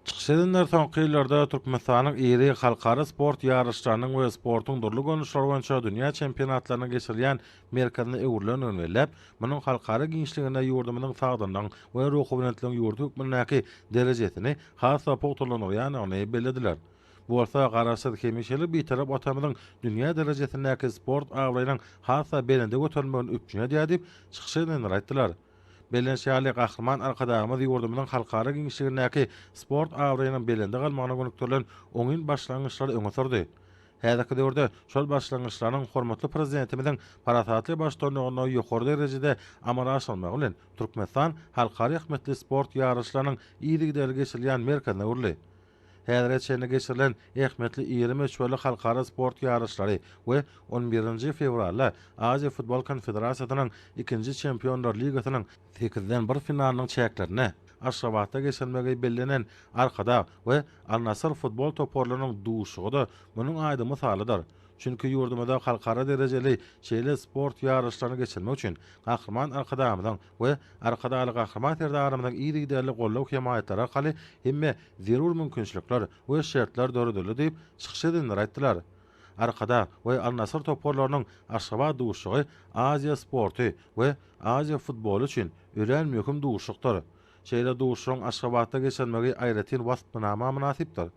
Çykyş edenler soňky ýyllarda Türkmenistanyň iri halkara sport ýaryşlarynyň we sportuň dürli görnüşleri boýunça dünýä çempionatlarynyň geçirilýän merkezine öwrülendigini belläp, munuň halkara giňişliginde ýurdumyzyň sagdynlygyň we ruhubelentligiň ýurt hökmündäki derejesini has-da pugtalandyrýandygyny bellediler. Bu bolsa Garaşsyz, hemişelik Bitarap Watanymyzyň dünýä derejesindäki sport abraýynyň has-da belende göterilmegini üpjün edýär diýip, çykyş edenler aýtdylar. Bellenişi ýaly, Gahryman Arkadagymyz ýurdumyzyň halkara giňişligindäki sport abraýynyň belende galmagyna gönükdirilen oňyn başlangyçlary öňe sürdi. Häzirki döwürde şol başlangyçlaryň hormatly Prezidentimiziň parasatly baştutanlygynda ýokary derejede amala aşyrylmagy bilen, Türkmenistan halkara ähmiýetli sport ýaryşlarynyň yzygiderli geçirilýän merkezine öwrüldi. Häzire çenli geçirilen ähmiýetli iri möçberli halkara sport ýaryşlary we on birinji fewralda Aziýa futbol konfederasiýasynyň ikinji Çempionlar ligasynyň sekizden bir finalynyň çäklerinde Aşgabatda geçirilmegi bellenen Arkadag we Al-Nassr futbol toparlarynyň duşuşygy-da munuň aýdyň mysalydyr. Çünki ýurdumyzda halkara derejeli şeýle sport ýaryşlaryny geçirmek üçin Gahryman Arkadagymyzyň we Arkadagly Gahryman Serdarymyzyň yzygiderli goldaw-hemaýatlary arkaly hemme zerur mümkinçilikler we şertler döredildi diýip, çykyş edenler aýtdylar. Arkadag we Al-Nasr toparlarynyň Aşgabat duşuşygy Aziýa sporty we Aziýa futboly üçin örän möhüm duşuşykdyr. Şeýle duşuşygyň Aşgabatda geçirilmegi aýratyn waspnama mynasypdyr.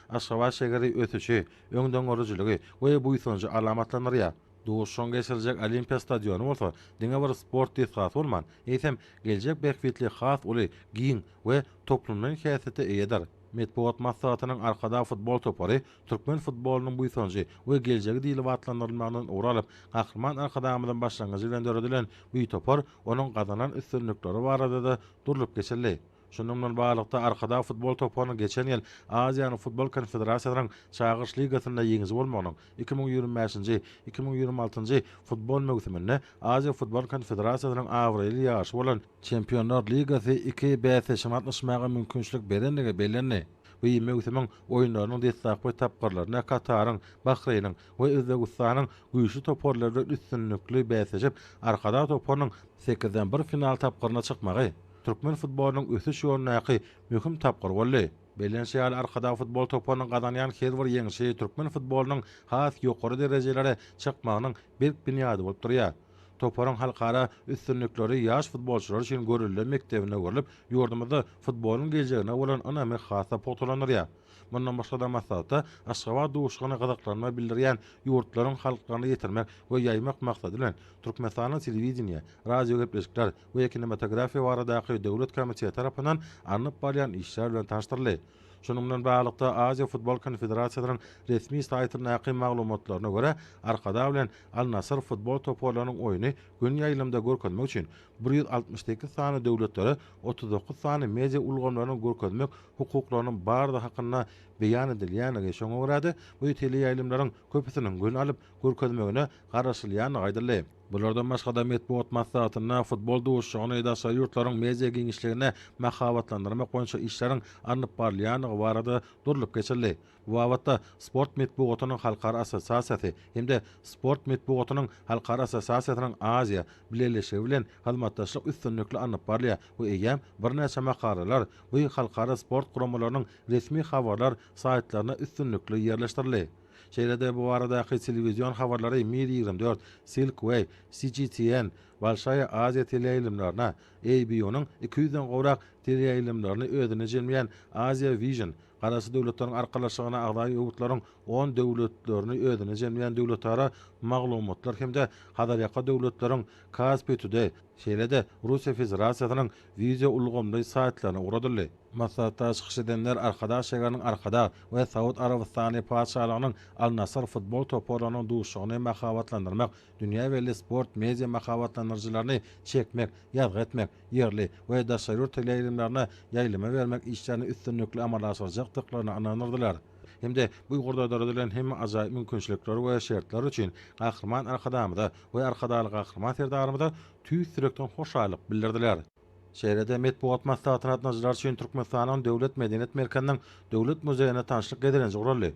Aşgabat şägeri ösüşi, öňdengörüjiligi we buýsanjy alamatlandyrýar. Duşuşygyň geçiriljek Olimpiýa stadiony bolsa diňe bir sport desgasy bolman, eýsem, geljek bähbitli has uly, giň we toplumlaýyn häsiýete eýedir. Metbugat maslahatynyň Arkadag futbol topary türkmen futbolynyň buýsanjy we geljegi diýlip atlandyrylmagyndan ugur alyp, Gahryman Arkadagymyzyň başlangyjy bilen döredilen bu topar, onuň gazanan üstünlikleri barada-da durlup geçildi. Şundan bilen baglylykda, Arkadag futbol toparynyň geçen ýyl Aziýanyň futbol konfederasiýasynyň Çagyryş ligasynda ýeňiji bolmagynyň, iki müň ýigrimi bäşinji, iki müň ýigrimi altynjy futbol möwsüminde Aziýa futbol konfederasiýasynyň abraýly ýaryşy bolan Çempionlar ligasy iki bäsleşige gatnaşmaga mümkinçilik berendigi bellendi. Bu möwsümiň oýunlarynyň deslapky tapgyrlarynda Kataryň, Bahreýniň we Özbegistanyň güýçli toparlary bilen üstünlikli bäsleşip, Arkadag toparynyň sekizden bir final tapgyryna çykmagy, türkmen futbolynyň ösüş ýolundaky möhüm tapgyr boldy. Bellenişi ýaly, Arkadag futbol toparynyň gazanýan her bir ýeňşi türkmen futbolynyň has ýokary derejelere çykmagynyň berk binýady bolup durýar. Toparyň halkara üstünlikleri ýaş futbolçylar üçin görelde mekdebine öwrülip, ýurdumyzda futbolyň geljegine bolan ynamy has-da pugtalandyrýar. Mundan başga-da maslahatda Aşgabat duşuşygyna gyzyklanma bildirýän ýurtlaryň halklaryna ýetirmek we ýaýmak maksady bilen, Türkmenistanda telewideniýe, radiogepleşikler, we kinematografiýa baradaky döwlet komiteti tarapyndan alnyp barylýan işler bilen tanyşdyryldy. Şunuň bilen baglylykda, Aziýa Futbol Konfederasiýasynyň resmi saýtyndaky maglumatlaryna görä, Arkadag bilen Al-Nasr futbol toparlarynyň oýny gün ýaýlymda görkezmek üçin bir ýüz altmyş sekiz sany döwletlere otuz dokuz sany media ulgamlarynyň görkezmek hukuklarynyň bardygy hakynda beýan edilýändigi, şoňa görä-de, bu teleýaýlymlaryň köpüsiniň gün alyp görkezmegine garaşylýandygy aýdyldy. Bulardan başga-da metbugat maslahatynda futbol duşuşygyny daşary ýurtlaryň media giňişligine mahabatlandyrmak boýunça işleriň alnyp barylýandygy barada durlup geçildi. Bu babatda Sport metbugatynyň halkara assosiasiýasy hem-de Sport metbugatynyň halkara assosiasiýasynyň Aziýa Bileleşigi bilen hyzmatdaşlyk üstünlikli alnyp barylýar we eýýäm birnäçe makalalar bu halkara sport guramalarynyň resmi habarlar saýtlaryna üstünlikli ýerleşdirildi. Şeýle-de bu baradaky telewizion habarlary Mir ýigrimi dört, Silk Way, CGTN, Bolşaýa Aziýa teleýaýlymlaryna, ABU-nyň iki ýüzden gowrak teleýaýlymlaryny özüne jemleýän Asia Vision, Garaşsyz Döwletleriň Arkalaşygyna agza ýurtlaryň on döwletlerini özüne jemleýän döwletara maglumatlar hem-de Hazarýaka döwletleriň Kaspi Today, Şeýle-de, Russiýa Federasiýasynyň wideo ulgamly saýtlaryna ugradyldy. Maslahatda çykyş edenler Arkadag şägeriniň Arkadag we Saud Arabystany Patyşalygynyň Al-Nasr futbol toparlarynyň duşuşygyny mahabatlandyrmak, dünýä belli sport media mahabatlandyryjylaryny çekmek, ýazgy etmek, ýerli we daşary ýurt teleýaýlymlaryna ýaýlyma bermek işlerini üstünlikli amala aşyrjakdyklaryna ynandyrdylar hem-de bu ugurda döredilen hemme ajaýyp mümkinçilikler we şertler üçin Gahryman Arkadagymyza we Arkadagly Gahryman Serdarymyza tüýs ýürekden hoşallyk bildirdiler. Şeýle-de metbugat maslahatyna gatnaşyjylar üçin Türkmenistanyň Döwlet medeniýet merkeziniň Döwlet muzeýinde tanşlyk gezelenji guraldy.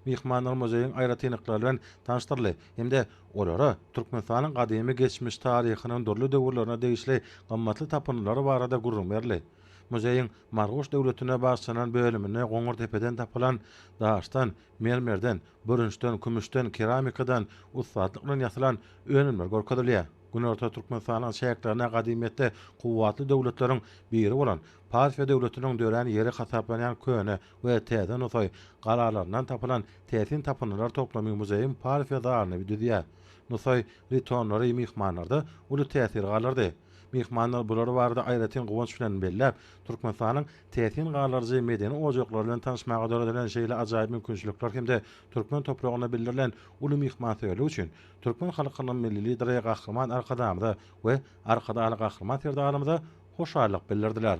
Myhmanlar muzeýiň aýratynlyklary bilen tanyşdyryldy hem-de olara Türkmenistanyň gadymy geçmiş taryhynyň dürli döwürlerine degişli gymmatly tapyndylary barada gürrüň berildi. Muzeýiň Marguş döwletine bagyşlanan bölüminde Goňurdepeden tapylan daşdan, mermerden, bürünçden, kümüşden, keramikadan ussatlyk bilen ýasalan önümler görkezilýär. Günorta Türkmenistanyň çäklerinde gadymyýetde kuwwatly döwletleriň biri bolan Parfiýa döwletiniň dörän ýeri hasaplanýan köne we täze nusaý galalaryndan tapylan täsin tapyndylar toplamy muzeýiň Parfiýa zalyny düzýär. Nusaý ritonlary myhmanlarda uly täsir galdyrdy. Myhmanlar bulary barada aýratyn guwanç bilen belläp, Türkmenistanyň täsin galdyryjy medeni ojaklar bilen tanyşmaga döredilen şeýle ajaýyp mümkinçilikler hem-de türkmen topragynda bildirilen uly myhmansöýerlik üçin türkmen halkynyň Milli Lideri Gahryman Arkadagymyza we Arkadagly Gahryman Serdarymyza hoşallyk bildirdiler.